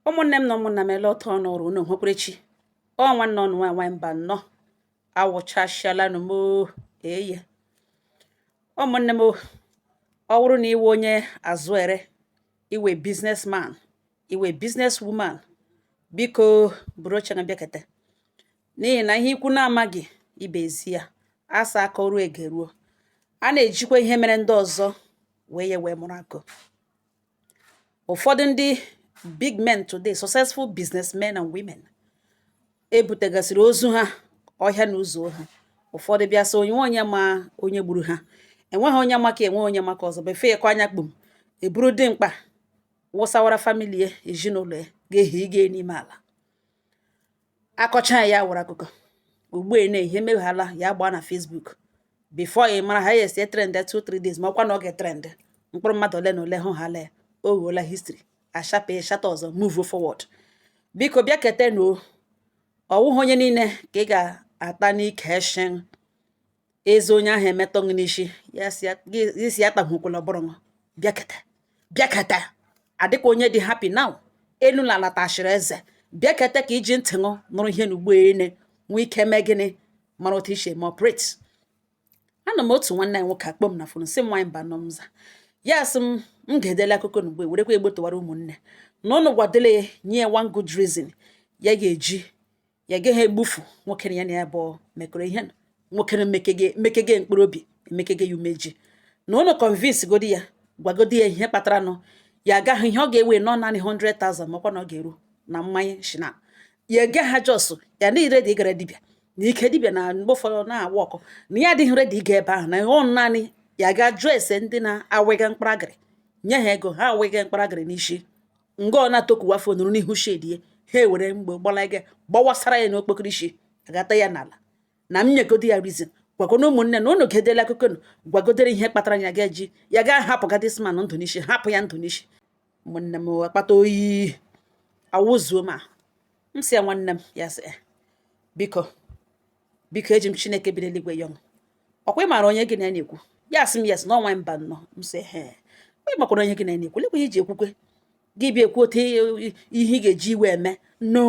ụmụnne m na ụmụnna m elee otu n'ọrụ unu hụkwara chi ọ nwanne unu nwa nwaanyị Mbanọ awụchasịalanụ m eye ụmụnne m ọ wụrụ na ị wụ onye azụ ere ị wụ businessman ị wụ business woman biko buru oche na bịakete n'ihi na ihe ikwu na-amaghị ibe ezi ya asa aka ọrụ egeruo a na-ejikwa ihe mere ndị ọzọ wee ya wee mụrụ akọ ụfọdụ ndị big men today successful businessmen and women ebutegasịrị ozu ha ọhịa na ụzọ ha ụfọdụ bịa sị onye ma onye gburu ha enweghị onye maka enwe onye maka ọzọ before ya anya kpum eburu dimkpa wụsawara family ya ezinụlọ ya ga-ehi ịga n'ime ala akọcha ya wụrụ akụkọ ugbu a na ihe emeghala ya gbaa na Facebook before ị mara ha ya esi trend 2 3 days ma ọkwa na ọ ga-etrend mkpụrụ mmadụ ole na ole hụ ha lee ọ wụọla history ashape chapter ọzọ move forward biko bịakete na ọwụghị onye niile ka ị ga-ata n'ike shin eze onye ahụ emetọ gị n'isi ya si ya gị- gị si ya tahukwala ọbụrụ nwa bịaketa bịaketa adịka onye dị happy now elu na ala tachiri eze bịaketa ka iji ntị ṅụ nụrụ ihe na ugbo ene nwee ike mee gịnị mara otu i si eme operate ana m otu nwanne anyị nwoke akpọ m na phone sị nwaanyị Mbanọ m zaa ya sị m m ga-edele akụkọ na ugbo werekwa egbo tụwara ụmụnne na ụnụ gwadele ya nye ya one good reason ya ga-eji ya gaghị egbufu nwoke ya na ya bụ mekọrọ ihe nwoke mekege mkpụrụ obi emekege ya umeji na ụnụ convince godi ya gwagodi ya ihe kpatara nụ ya agaghị ihe ọ ga-ewe nọ naanị 100,000 makwa na ọ ga-eru na mmanya shi na ya ege ha jos ya na ire dị ịgara dibịa na ike dibịa na mgbe ụfọdụ na-awa ọkụ na ya adịghị ready ịga ebe ahụ na ọ naanị ya ga jụọ ese ndị na-awega mkparagịrị nye ha ego ha awega mkparagịrị n'isi nga ọ na-atokuwa phone nọrọ n'ihu shed ya ha ewere egbe gbalaga gbawasara ya n'okpokoro isi agata ya n'ala na m nyegodi ya reason gwagona ụmụnne na unu gedela akụkọ unu gwagodere ihe kpatara ya ga-eji ya gaa hapụga this man ndụ n'isi hapụ ya ndụ n'isi ụmụnne m akpata oyi awụzuo ma m si ya nwanne m ya sị eh, biko biko eji m chineke bi n'eluigwe yọọ m ọkwa ị maara onye gị na ya na-ekwu ya sị m yes na ọ nwa Mbanọ m sị he ị makwara onye gị na ya na-ekwu lekwa iji ekwukwe gị bịa ekwu otu ihe ị ga-eji iwe eme no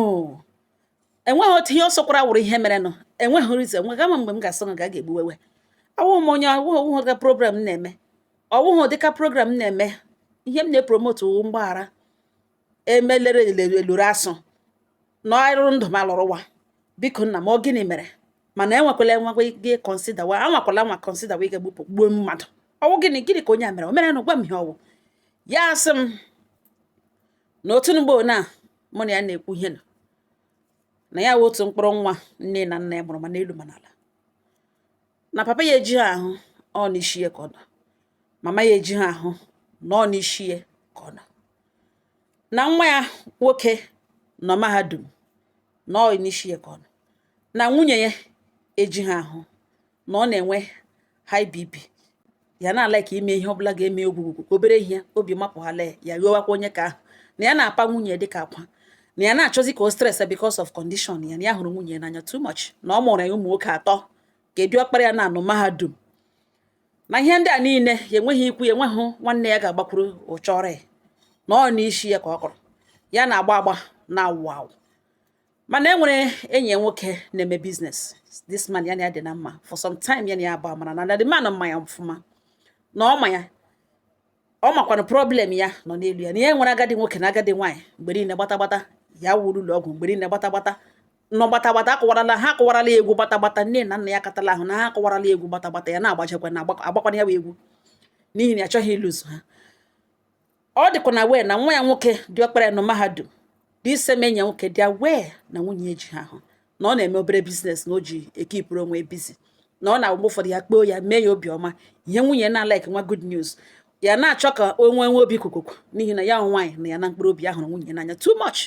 enweghị otu ihe ọ sọkwara wụrụ ihe mere nọ enweghị reason enweghị ama mgbe m ga-asị na ga ga-egbuwewe awụghị m onye awụghị ọwụghị ụdịka program na-eme ọwụghị ụdịka program na-eme ihe m na-epromote wụ mgbaghara emelere eluru asụ na ọrụ ndụ ma lụrụ wa biko nna m ọ gịnị mere mana enwekwala enwekwa ike kọnsida wa anwakwala anwa kọnsida wa ike gbupụ gbuo mmadụ ọ wụ gịnị gịnị ka onye a mere o mere na gwa m ihe ọ wụ ya asị m na otu mgbe na mụ na ya na-ekwu ihe na ya wụ otu mkpụrụ nwa nne na nna ya mụrụ ma n'elu ma n'ala na papa ya ejighị ahụ ọ n'isi ya ka ọ nọ mama ya ejighị ahụ na ọ n'isi ya ka ọ nọ na nwa ya nwoke nọ mahadum na ọ n'isi ya ka ọ nọ na nwunye ya ejighị ahụ na ọ na-enwe high BP ya na-ala ka ime ihe ọbụla ga-eme ogwugwu ka obere ihe obi mapụ ha lee ya ghọwakwa onye ka ahụ na ya na-apa nwunye dị ka akwa na ya na-achọzi ka o stress because of condition ya na ya hụrụ nwunye n'anya too much na ọ mụrụ ya ụmụ nwoke atọ ka dị ọkpara ya nọ na mahadum na ihe ndị a niile ya enweghị ikwu ya enweghị nwanne ya ga-agbakwuru ọ chọọrọ ya na ọ n'isi ya ka ọ kọrọ ya na-agba agba na-awụ awụ mana e nwere enyi ya nwoke na-eme business this man ya na ya dị na mma for some time ya na ya agba mara na the man ma ya ọfụma na ọ ma ya ọ makwanụ problem ya nọ n'elu ya na ya nwere agadi nwoke na agadi nwaanyị mgbe niile gbata gbata ya wụrụ ụlọ ọgwụ mgbe niile gbata gbata na gbata gbata akụwarala ha akụwarala egwu gbata gbata nne na nna ya katala ahụ na ha akụwarala egwu gbata gbata ya na-agbachakwa na-agbakwana ya bụ egwu n'ihi na ya achọghị ịlụzu ha ọ dịkwanụ aware na nwa ya nwoke dị ọkpara ya nọ mahadum this same enyi ya nwoke dị aware na nwunye ejighị ahụ na ọ na-eme obere business na o ji ekipụrụ onwe busy na ọ na-agba ụfọdụ ya kpoo ya mee ya obi ọma ihe nwunye na-alaik nwa good news ya na-achọ ka o nwee nwee obi kukuku n'ihi na ya nwaanyị nọ ya na mkpụrụ obi ya hụrụ nwunye n'anya too much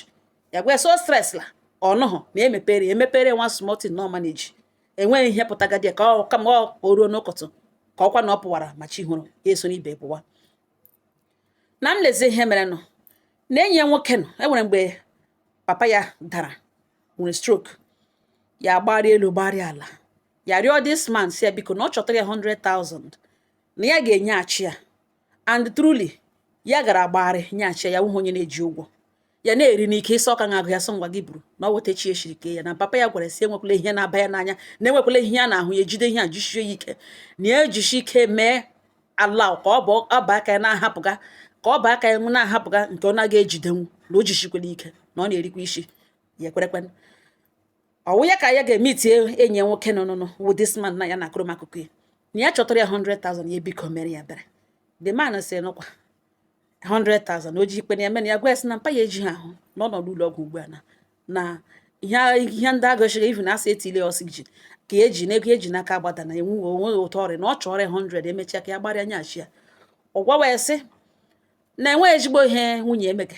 ya gwa so stress la ọnụhụ na emepere emepere nwa small thing na ọ ma na-eji enweghị ihe pụtagadi ya ka ọ kama o ruo n'ụtụtụ ka ọkwa na ọ pụwara ma chi hụrụ ya eso n'ibe pụwa na nlezi ihe merenụ na enyi ya nwoke nọ e nwere mgbe papa ya dara nwere stroke ya gbari elu gbari ala ya arịọ this man sị ya biko na ọ chọtara ya 100,000 na ya ga-enyeghachi ya and truly ya gara gbagharị nyeghachi ya wụhụ onye na-eji ụgwọ ya na-eri n'ike ịsọ ọka na-agụ ya sọ ngwa gị buru na ọ weta chi eshiri kee ya na papa ya gwara sị enwekwala ihe na-aba ya n'anya na enwekwala ihe ya na-ahụ ya ejide ihe a jichie ya ike na ya ejichi ike mee ala ka ọ bụ ọba aka ya na-ahapụga ka ọ bụ aka ya na-ahapụga nke ọ naghị ejidenwu na o jichikwala ike na ọ na-erikwa isi ya ekwerekwe ọ wụ ya ka ya ga meetie enyi nwoke nọ nụnụ wụ this man na ya na-akụrụ m akụkọ ya na ya chọtara ya 100,000 ya biko meere ya ebere the man sị nụkwa 100,000 o ji ikpe na ya mere ya gwa ya sị na mpa ya ejighị ahụ na ọ nọ n'ụlọ ọgwụ ugbu a na na ihe ndị agụchịghị ivu na a sị etiile ya oxygen ka eji na ego eji n'aka agbadaa na enweghị onweghị ụtọ ọrịa na ọ chọrọ ọrịa 100 emechaa ka ya gbarịa nyachi ya ọ gwawa ya sị na enweghị ezigbo ihe nwunye emega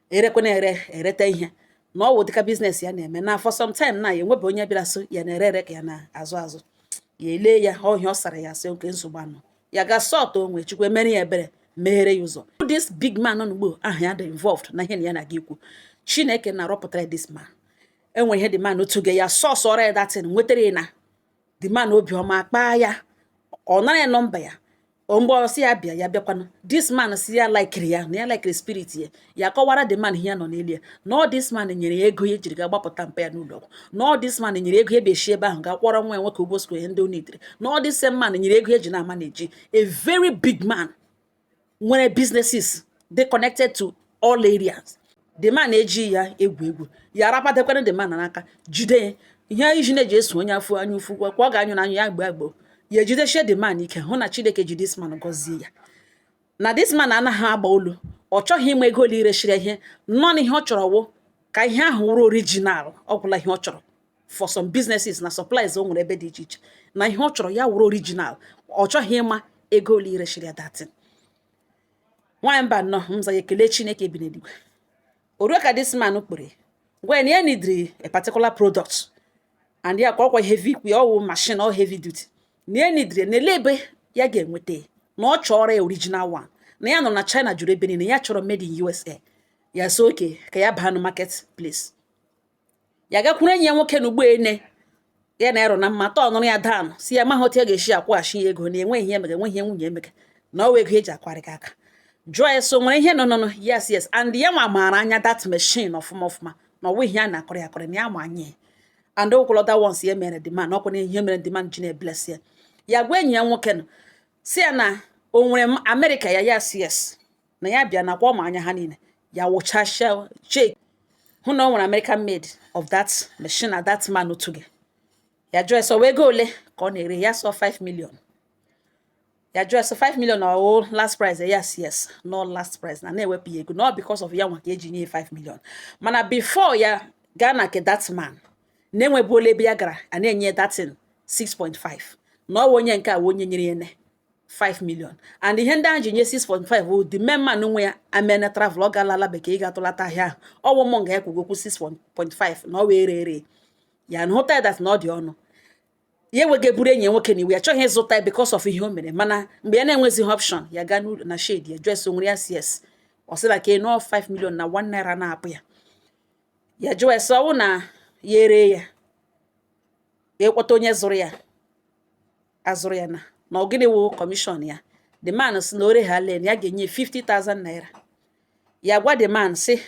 erekwana ere ereta ihe na ọ wụ dịka business ya na-eme na for some time na ya enwebe onye bịara sị ya na-ere ere ka ya na-azụ azụ ya elee ya ọhịa ọ sara ya sị okay nsogbu anọghị ya gaa sort onwe chukwu emere ya ebere meghere ya ụzọ this big man nọ n'ugbo ahụ ya dị involved na ihe na ya na-aga ikwu chineke na-arọpụtara this man e nwere ihe the man otu ga ya sọsọrọ ya that thing nwetara ya na the man obiọma kpaa ya ọ nara ya nọmba ya mgbe ọ sị ya bịa ya bịakwanụ this man sị ya laikiri ya na ya laikiri spirit ya ya kọwara the man ihe ya nọ n'elu ya na ọ this man nyere ya ego ya jiri gaa gbapụta mpa ya n'ụlọ ọgwụ na ọ this man nyere ego ya bịa shi ebe ahụ gaa kwụọrọ nwa ya nwoke ụgwọ skul ihe ndị ọ nidiri na ọ this same man nyere ego ha ji na-amanage a very big man nwere businesses dị connected to all areas the man ejighị ya egwu egwu ya arapatakwana the man n'aka jide ya ihe ijiji na-eji eso onye afọ na-ahụ ụfụ kwa ọ ga-anyụ anyụ ya gbọọ agbọ ya ejidechie the man ike hụ na chineke ji this man gọzie ya na this man anaghị agba olu ọ chọghị ịma ego ole i reshiri ihe nọ na ihe ọ chọrọ wụ ka ihe ahụ wụrụ original ọ gwụla ihe ọ chọrọ for some businesses na supplies o nwere ebe dị iche iche na ihe ọ chọrọ ya wụrụ original ọ chọghị ịma ego ole i reshiri ya that thing nwaanyị mba nọ mza ya ekele chineke bi n'eluigwe o ruo ka this man kpọrọ gwa ya na ya nidiri a particular product and ya ka ọ kwa heavy ikwu ya ọ wụ machine ọ heavy duty na ya nidiri na olee ebe ya ga-enweta na ọ chọrọ ya original one na ya nọ na china juru ebe niile ya chọrọ made in usa ya sị okay ka ya baa na market place ya gakwuru enyi ya nwoke na ugbo ene ya na ero na mma turnụrụ ya down sị ya amaghị otu ya ga-esi akwụghachi ya ego na enweghị ihe emega enweghị ihe nwunye emega na ọ wụ ego eji akwarị gị aka jụọ ya sị o nwere ihe nọnụnụ yes yes and ya nwa maara anya that machine ọfụma ọfụma na ọ wụghị ihe a na-akọrọ ya akọrọ na ya ma anya ya and okwụlọta once ya mere the man ọ kwa na ihe mere the man ji na-ebless ya ya gwa enyi ya nwoke nọ sị ya na o nwere america ya yes yes na ya bịa nakwa ọ ma anya ha niile ya wụchasịa check hụ na o nwere American made of that machine na that man otu gị ya jụọ ya sị ọ wụ ego ole ka ọ na-ere ya ọ sị ọ 5 million ya jụọ ya sị 5 million ọ wụ last price yes yes na ọ last price na na-ewepụ ya ego not because of ya nwa ka e ji enye 5 million mana before ya gaa na nke that man na e nwebu ole ebe ya gara a na-enye that thing 6.5 na ọ wụ onye nke a onye nyere ya ne 5 million and ihe ndị ahụ ji nye 6.5 bụ the main man nwe ya emena travel ọ gaala ala bekee ịga tụlata ahịa ahụ ọ wụ mụ nga ya kwugokwu 6.5 na ọ wee ree ree ya na hụta that na ọ dị ọnụ ya enweghị eburu enyi nwoke na iwe ya chọghị ịzụta ya because of ihe o mere mana mgbe ya na-enwezighị option ya gaa n'ụlọ na shade ya jụọ ya sị o nwere ya sị yes ọ sị na ka nọọ 5 million na 1 naira anaghị apụ ya ya jụọ ya sị ọ wụ na ya eree ya ya akpọta onye zụrụ ya azụrụ ya na na ọ gịnị wụ commission ya the man sị na o reghalen ya ga-enye 50,000 naira ya gwa the man sị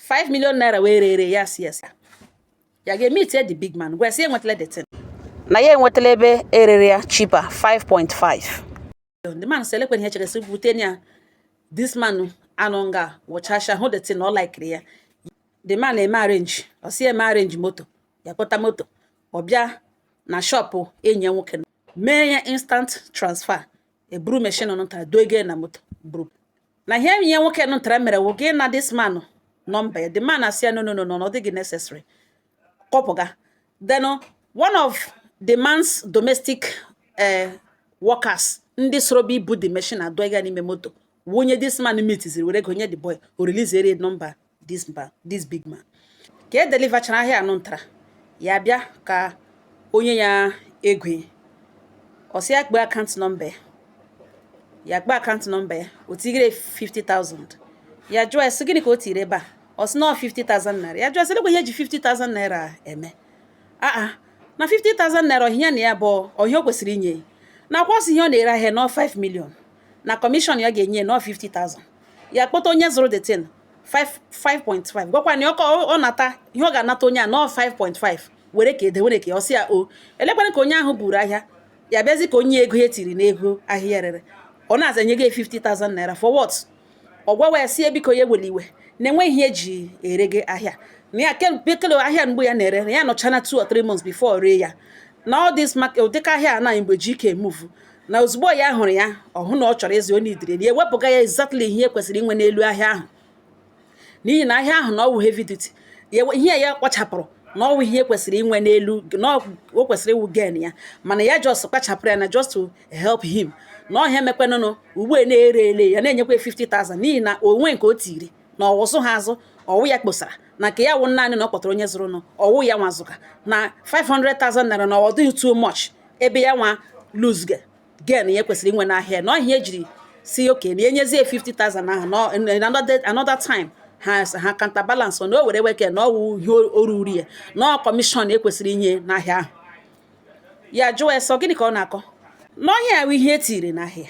5 million naira wee rere ya sị yes ya gaa meet the big man gwa sị enwetala the thing na ya enwetala ebe e rere ya cheaper 5.5 the man sị elekwe ihe chere sị bute ya this man anọ nga wụchasha hụ the thing na ọ likiri ya the man eme arrange ọ si eme arrange moto ya kpọta moto ọ bịa na shop enyi ya nwoke mee ya instant transfer e buru machine nụta dọge na moto bụrụ na ihe enyi ya nwoke nụtara mere wụ ịgana this man number ya the man asị ya no no no no ọ dịghị necessary ka ọ pụga then one of the man's domestic eh, workers ndị soro bịa ibu the machine adọga n'ime moto wụ onye this man meetiziri were ego nye the boy o release ere number this man this big man ka e deliverchara ahịa anụ ntara ya bịa ka o nye ya ego ya ọ sị ya kpee account number ya ya kpee account number ya o tigere 50,000 ya jụọ ya sị gịnị ka o tiri ebe a ọ sị na 50,000 naira ya jụọ sị lekwa ihe ji 50,000 naira eme aa na 50,000 naira ọ ihe ya na ya bụ ọ ihe o kwesịrị inye na ọ kwa ọ sị ihe ọ na-ere ahịa na ọ 5 million na commission ya ga-enye na ọ 50,000 ya kpọta onye zụrụ the thing 5.5 gwakwa na ọkọ ọ nata ihe ọ ga-anata onye a na ọ 5.5 were ka ede were ka ọ sị ya o lekwere ka onye ahụ buru ahịa ya bịazi ka o nye ego ya e tiri n'ego ahịa rere ọ na-aza nye gị 50,000 naira for what ọ gwawa ya sị biko ya ewela iwe na-enweghị ihe e ji ere gị ahịa na ya kele ahịa mgbe ya na-ere na ya nọchana 2 or 3 months before ree ya na all this ụdịka ahịa a na mgbe ji ike move na ozugbo ya hụrụ ya ọ hụ na ọ chọrọ ịzụ o needịrị ya ewepụga ya exactly ihe e kwesịrị inwe n'elu ahịa ahụ n'ihi na ahịa ahụ na ọ wụ heavy duty ihe ya kpachapụrụ na ọ wụ ihe e kwesịrị inwe n'elu na o kwesịrị ịwụ gain ya mana ya just kpachapụrụ ya na just to help him na ọ ihe a mekwanụnụ ugbu a na-ere ele ya na-enyekwa 50,000 n'ihi na o nwe nke o tiri na ọwụsụ ha azụ ọ wụ ya kposara na nke ya wụ naanị na ọ kpọtara onye zụrụ na ọ wụ ya nwazụka na 500,000 naira na ọ dịghị too much ebe ya nwa lose gain ya kwesịrị inwe n'ahịa na ọ ihe e jiri sị okay na enyezie 50,000 ahụ na in another another time ha ha counterbalance na o were weke na ọ wụ ihe o ruru ya na ọ commission e kwesịrị inye n'ahịa ahụ ya jụọ ya sị ọ gịnị ka ọ na-akọ n'ọhịa ahụ ihe e tiri n'ahịa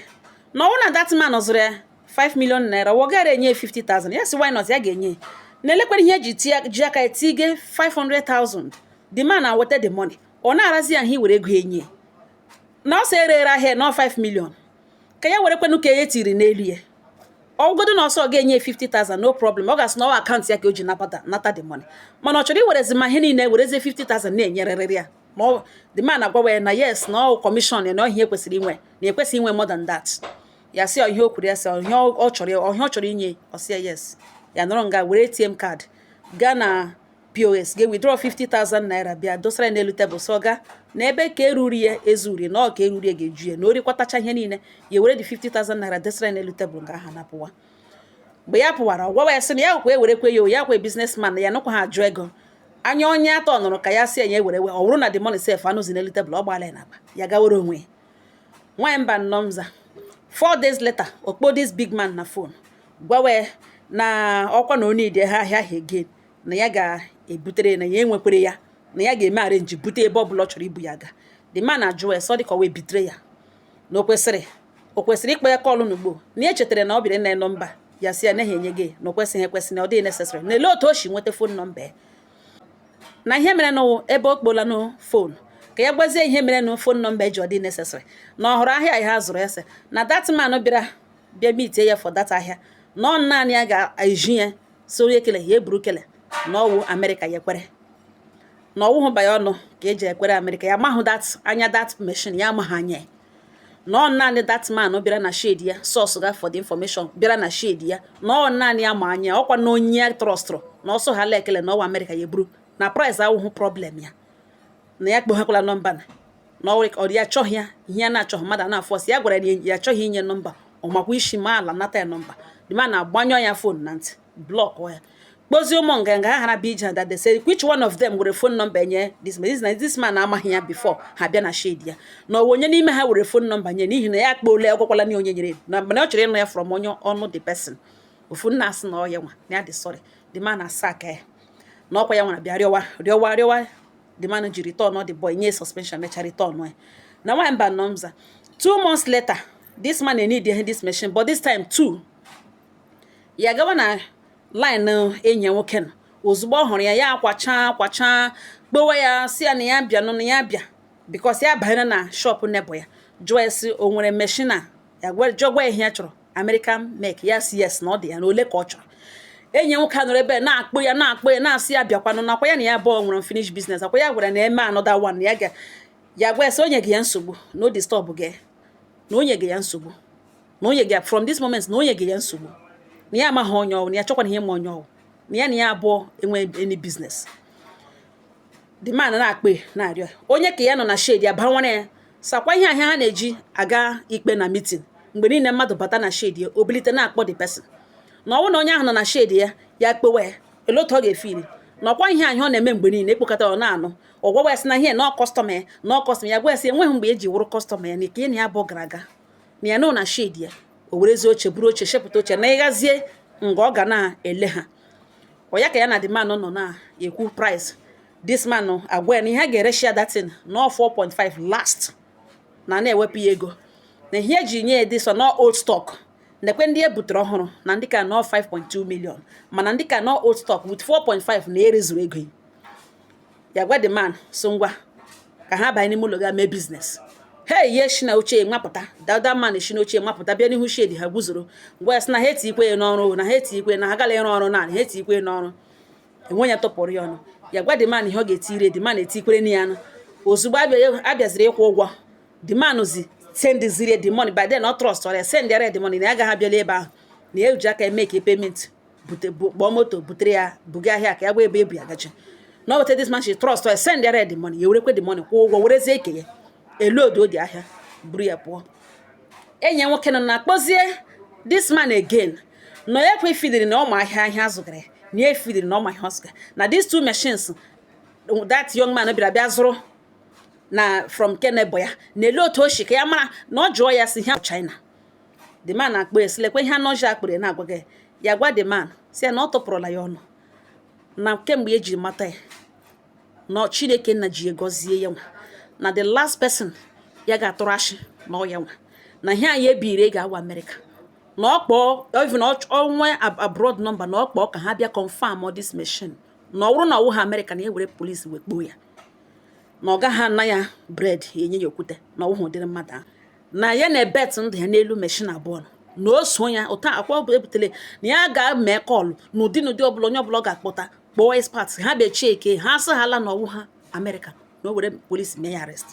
na ọ wụ na that man zụrụ ya 5 million naira ọ gara enye 50,000 ya sị why not ya ga-enye na-elekwere ihe eji ji aka etige 500,000 the man aweta the money ọ na-arazi ya ahụ iwere ego enye na ọ sị e rere ahịa na 5 million ka ya were kwenụ ka ya tiri n'elu ya ọ wụgodu na ọ sị ọ ga-enye 50,000 no problem ọ ga-asị na ọ wụ account ya ka o ji nabata nata the money mana ọ chọrọ iwerezi ma ihe niile werezie 50,000 na-enyerịrị ya ma ọ the man agwawa ya na yes na ọ commission ya na ọ ihe e kwesịrị inwe na ekwesịghị inwe more than that ya sị ọ ihe o kwuru ya sị ọ ihe ọ chọrọ ọ ihe ọ chọrọ inye ọ sị ya yes ya nọrọ nga were ATM card gaa na POS ga withdraw 50,000 naira bịa dosara ya n'elu tebụl so ga na ebe ka eruru ya ezuri na ọ ka eruru ya ga-eju ya na o rikwatacha ihe niile ya were dị 50,000 naira dosara ya n'elu tebụl nga ahụ na-apụwa mgbe ya pụwara ọ gwa ya sị na ya kwa ewerekwe ya ya kwa businessman ya nụkwa ha ajụ ego anya onye atọ nụrụ ka ya sị ya ewere we ọ bụrụ na the money sef anọzi n'elu tebụl ọ gbaala ya n'akpa ya gawere onwe ya nwaanyị mba nnọọ mza four days later ọ kpọọ this big man na phone gwawe na ọkwa na o need ahịa ahụ again na ya ga-ebutere na ya enwekwere ya na ya ga-eme arrange bute ebe ọ bụla ọ chọrọ ibu ya ga the man ajụ ya sị ọ dịka ọ wee bitere ya na o kwesịrị o kwesịrị ịkpọ ya call n'ugbo na ya chetara na ọ bịara na number ya sị ya naghị enye gị na o kwesịghị ekwesị na ọ dịghị necessary na ele otu o si nweta phone number ya na ihe mere na ebe o kpọla na phone ka ya gwazie ihe mere na phone number ejighị dị necessary na ọ hụrụ ahịa ha zụrụ ya sị na that man bịara bịa meetie ya for that ahịa na ọ naanị ya ga-eji ya soro ekele ya eburu kele na ọ wụ Amerịka ya ekwere na ọ wụhụ banye ọnụ ka e ji ekwere Amerịka ya amahụ that anya that machine ya amaghị anya na ọ naanị that man bịara na shade ya source ga for the information bịara na shade ya na ọ naanị ya ma anya ọkwa na onye trustụrụ na ọ sị ọ ha la ekele na ọ wụ Amerịka ya eburu na price awụhụ problem ya na ya akpọghekwala number na na ọ ka ọ dị ya achọghị ya ihe ya na-achọghị mmadụ a na-aforce ya gwara ya ya achọghị inye number ọ makwa isi ma ala nata ya number the man agbanyụ ya phone na ntị block ya kpọzie ụmụ nganga ha hara bịa that day sị which one of them were phone number nye this man this, na this man amaghị ya before ha bịa na shade ya na ọ wụ onye n'ime ha were phone number nye n'ihi na ya akpọole ọ gwakwala na onye nyere na mana ọ chọrọ ịnụ ya from onye ọnụ the person ofu nna asị na ọ ya nwa na ya dị sorry the man asa aka ya na ọkwa ya nwara bịa rịọwa rịọwa rịọwa the man ji return ọ the boy nye suspension mecha return ya na nwa mba nọ mza two months later this man need this machine but this time too ya gawa na line enyi ya nwoke nọ ozugbo ọ hụrụ ya ya akwachaa akwachaa kpọwe ya sị ya na ya bịa nọ na ya bịa because ya banyere na shop neighbour ya jụọ ya sị o nwere machine a ya jụọkwa ihe ya chọrọ American make ya sị yes na ọ dị ya na ole ka ọ chọrọ enyi ya nwoke nọrọ ebe na-akpọ ya na-akpọ ya na-asị ya bịakwanụ na ọkwa ya na ya abụọ nwere unfinished biznes ọkwa ya gwara na eme another one ya ga ya gwa ya sị o nyega ya nsogbu na ọ disturb ga ya na o nyega ya nsogbu na o nyega from this moment na o nyega ya nsogbu na ya amaghị onye ọ wụ na ya achọkwaghị ịma onye ọ wụ na ya na ya abụọ enwe any biznes the man na-ekpe na-arịọ onye ka ya nọ na shedi ya banwere ya sị ọkwa ihe ahụ ha na-eji aga ikpe na mitin mgbe niile mmadụ bata na shedi ya o bilite na-akpọ the person na ọ wụ na onye ahụ nọ na shedi ya ya kpọwe ya elee otu ọ ga-efeel na ọkwa ihe ahụ ọ na-eme mgbe niile ekpokọta ọ na-anụ ọ gwawa ya sị na ihe na kọstọma ya na kọstọma ya gwa ya sị enweghị mgbe o ji wụrụ kọstọma ya na nke na ya bụ gara aga na ya nọ na shedi ya o werezie oche buru oche shepụta oche n'ihu ezi nga ọ ga na-ele ha ọ ya ka ya na the man nọ na-ekwu price this man agwa ya na ihe a ga-ereshi ya that thing na ọ 4.5 last na na-ewepụ ya ego na ihe e ji nye ya dị so na ọ old stock nekwa ndị ya butere ọhụrụ na ndị ka nọ 5.2 million mana ndị ka nọ old stock with 4.5 na erezuru ego ya gwa the man sị ngwa ka ha banye n'ime ụlọ ga mee biznes hey ya shi n'oche nwa pụta that other man shi n'oche nwa pụta bịa n'ihu shedi ha guzoro na-agwa ya sị na ha etikwe ya n'ọrụ na ha etikwe na ha gala ịrụ ọrụ naanị ha etikwe n'ọrụ enwe ya tụpụrụ ya ọnụ ya gwa the man ihe ọ ga-etire the man etikwere na ya ozugbo a bịaziri ịkwụ ụgwọ the man zi send ziri the money by then ọ trọstọrọ ya send ya the money na ya agaghị abịala ebe ahụ na ya eji aka make payment kpọọ moto butere ya buga ahịa ka ya gwa ebe e bu ya gacha na ọ weta this man still trust ya send ya the money ya werekwe the money kwụọ ụgwọ werezie aka ya load the ahịa buru ya pụọ enyi ya nwoke nọ na-akpọzi this man again na ya ekwe fidiri na ọ ma ahịa ahịa azụgara na ya efidiri na ọ ma ahịa ọ zụga na these two machines that young man bịara bịa zụrụ na from aka neighbour ya na elee otu o si ka ya mara na ọ jụọ ya sị ha China the man akpọọ ya sị lekwa ihe anọji akpịrị na-agwa gị ya gwa the man sị ya na ọ tụpụrụla ya ọnụ na kemgbe ya ji mata ya na Chineke Nna ji gọzie ya nwa na the last person ya ga-atụrụ ashị na ọ ya nwa na ihe anyị ebiri ego awa America na ọ kpọọ even o nwee abroad number na ọ kpọọ ka ha bịa confirm all this machine na ọ bụrụ na ọ wụhụ America na e were polisi wee kpọọ ya na ọ gaghị ana ya bread e nye ya okwute na ọ wụhụ ụdịrị mmadụ ahụ na ya na-ebet ndụ ya n'elu meshin abụọ nọ na o so ya ụta akwa ọ bụ ebutere na ya ga-eme kọlụ n'ụdị n'ụdị ọbụla onye ọbụla ọ ga-akpọta kpọọ expert ha bịa cheke ha sị hala na ọ wụha amerịka na o were polisi mee ya arrest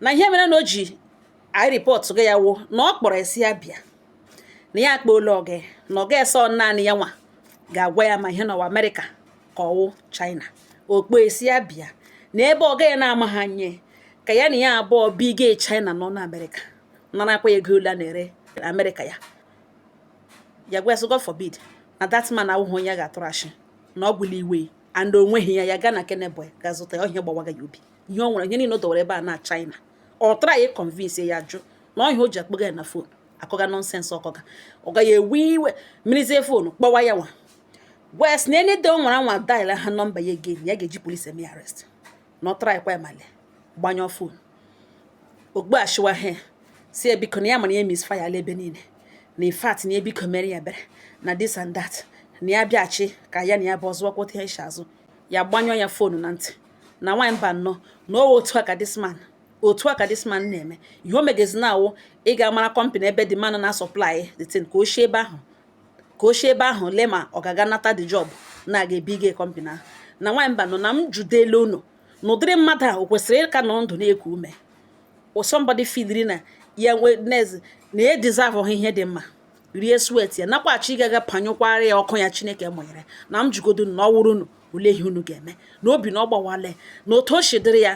na ihe mere na o ji aripọtụghị ya wụ na ọ kpọrọ sị ya bịa na ya akpọọla ọga na ọga asị ọ naanị ya nwa ga-agwa ya ma ihe nwa ọ wụ amerịka ka ọ wụ china ọ kpọọ sị ya bịa na ebe ọga ya na-amaha ihe ka ya na ya abụọ biga china nọ na amerịka narakwa ego ole a na-ere amerịka ya agwa sị god forbid na that man awụghị onye ya ga-atụrụ ashị na ọ bụla iwe and onweghị ya ya gaa na keneboy ga zụta ya ọ ihe a gbawaga ya obi ihe ọ nwere ihe niile o dowere ebe a na china ọ traya ịkọnvinsi ya jụ na ọ ihe a o ji akpọga ya na fon akọga nọnsensị ọ kọga ọga ya ewe iwe werezie fonu kpọwa ya nwa wee sị na any day ọ nwara anwa daila ha nọmba ya again ya ga-eji polisi eme arrest na ọ trayakwa ya male gbanyụọ fon ogbu achịwa ha sị ya biko na ya ma na ya misfayala ebe niile na in fact na ya biko mere ya ebere na this and that na ya bịachi ka ya na ya abụọ so kwuta ihe azụ ya gbanyụọ ya fonu na ntị na nwaanyị mbano na ọ wụ otu a ka this man otu a ka this man na-eme ihe o megazi now wụ ị ga-amara kọmpanị ebe the man na-asọplai the thing ka o si ebe ahụ ka o si ebe ahụ lee ma ọ ga-aga nata the job na-aga ebiga kọmpani ahụ na nwaanyị mbano na m jụdele unu na ụdịrị mmadụ ahụ o kwesịrị ịka nọ ndụ na-eku ume somebody filiri na ya nwa na ezinụlọ ya deserveha ihe dị mma rie sweat ya nakwa chọọ ịga gbanyụkwara ya ọkụ ya chineke mụnyere na m jụgodu na ọ wụrụ unu olee ihe unu ga-eme na obi na ọ gbawale na otu o si dịrị ya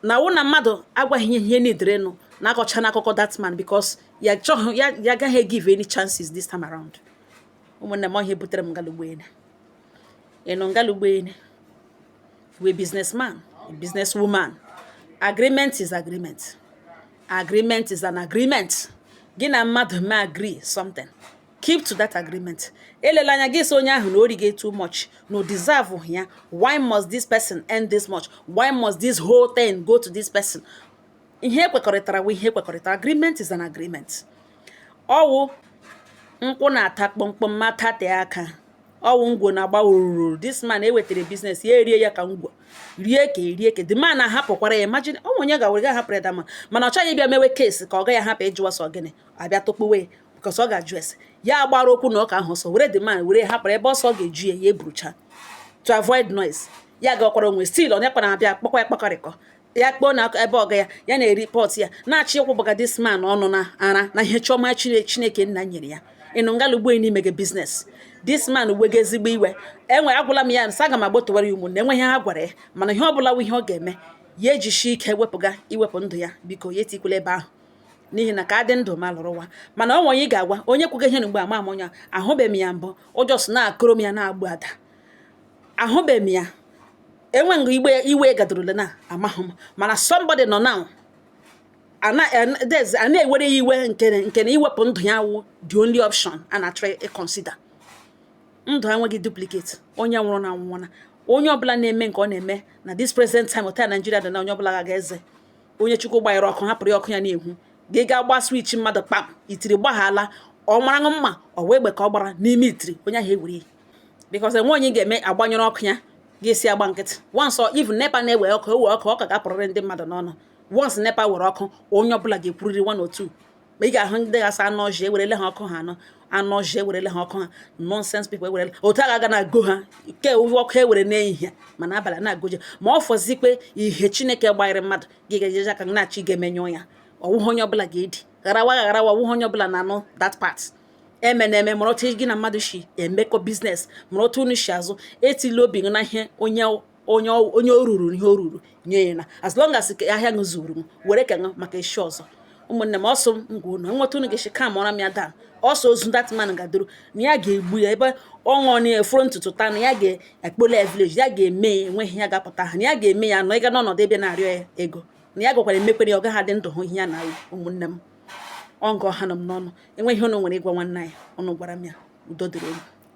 now wụ na mmadụ agwa gị ihe i nidiri ịnụ na-akọcha n'akụkọ that man because ya chọghị ya ya agaghị egive any chances this time around ụmụnne m ọ ihe butere m ngalụgbene ịnụ ngalụgbene we businessman a business woman agreement is agreement agreement is an agreement gị na mmadụ ma agree something keep to that agreement elela anya gị sị onye ahụ na o rige too much na ọ deserveha ya why must this person earn this much why must this whole thing go to this person ihe e kwekọrịtara wụ ihe e kwekọrịtara agreement is an agreement ọ wụ nkwụ na-ata kpọmkpọm ma tate aka ọ wụ ngwọ na-agba ururu this man ewetara biznes ya erie ya ka ngwọ rie ka erie ka the man ahapụkwara ya imagine ọ wụ onye ga-were ga ahapụrụ ya the man mana ọ chọghị ịbịa mewe kesi ka ọga ya hapụ ịjụwa sị ọ gịnị a bịa tụkpuwe because ọ ga-ajụ ese ya gbara okwu na ụka ahụ ọsọ were the man wee hapụrụ ebe ọ sọ ga-eju ya ya eburucha to avoid noise ya gakwara onwe still onye kpara abịa kpọkwa ya kpakọrịkọ ya kpọọ na ebe ọga ya ya na-report ya na-achọ ịkwụ bụga this man ọnụ na ara na ihe chọma chineke nna nyere ya ịnụ ngalugbo n'ime gị business this man wega ezigbo iwe enwe agwala m ya nsa aga m agbotowara ya ụmụnne enweghị ihe a gwara ya mana ihe ọ bụla ihe ọ ga-eme ya jishie ike wepụga iwepụ ndụ ya biko ya etikwula ebe ahụ n'ihi na ka adị ndụ ma lụrụ nwa mana ọ nwe onye ị ga-agwa onye kwuga ihe na mgbe ama amụnya ahụbeghị m ya mbụ just na-akọrọ m ya na-agbu ada ahụbeghị m ya enwe nga igbe iwe gadorole na amaghị m mana somebody nọ now a na-ewere ya iwe nke nke na iwepụ ndụ ya wụ the only option a na-achọ ịconsider ndụ enweghị duplicate onye nwụrụ anwụọna onye ọbụla na-eme nke ọ na-eme na this present time otu Naijiria dị na onye ọbụla ga-eze onye chukwu gbanyere ọkụ hapụrụ ya ọkụ ya na-enwu gị gaa gbaa switch mmadụ kpam itiri gbaghala ọ mara mma ọ wee egbe ka ọ gbara n'ime itiri onye ahụ ewere because enwe onye ga-eme a gbanyụrụ ọkụ ya ga-esi agba nkịtị once even nepa na-ewe ọkụ ewe ọkụ ụka ga-apụrịrị ndị mmadụ n'ọnụ once nepa were ọkụ onye ọbụla ga-ekwurịrị one or two ma ị ga-ahụ ndị ga-asị anụ ọhịa ewerele ha ọkụ ha anụ anụ ọhịa ewerele ha ọkụ ha nonsense people ewerele otu aga na-ago ha ke ọ wụ ọkụ e were n'ehihie mana abalị na-agoje ma ọ fọzikwe ihe chineke gbanyere mmadụ gị ga-eji aka na-achọ ịga emenyụ ya ọ wụhụ onye ọbụla ga-edi gharawa gharawa ọ wụhụ onye ọbụla na-anụ that part eme na eme mara otu gị na mmadụ shi emekọ business mara otu unu shi azụ etila obi gị na ihe onye onye onye o ruru ihe o ruru nye ya na as long as ahịa gị zuru m were ka maka echi ọzọ ụmụnne m a sị m gwa unu o nwee otu unu ga-esi calm ra m ya down because that man gadoro na ya ga-egbu ya ebe ọ nọ na efuru ntutu taa na ya ga-akpọla ya village ya ga-eme ya enweghị ihe ga-apụta ha na ya ga-eme ya nọ ịga n'ọnọdụ ebe na-arịọ ya ego na ya gakwara emekwere ya ọ gaghị adị ndụ hụ ihe ya na ụmụnne m ọ nga ọ hanụ m n'ọnụ o nwee ihe unu nwere ịgwa nwanne anyị unu gwara m ya udo dịrị unu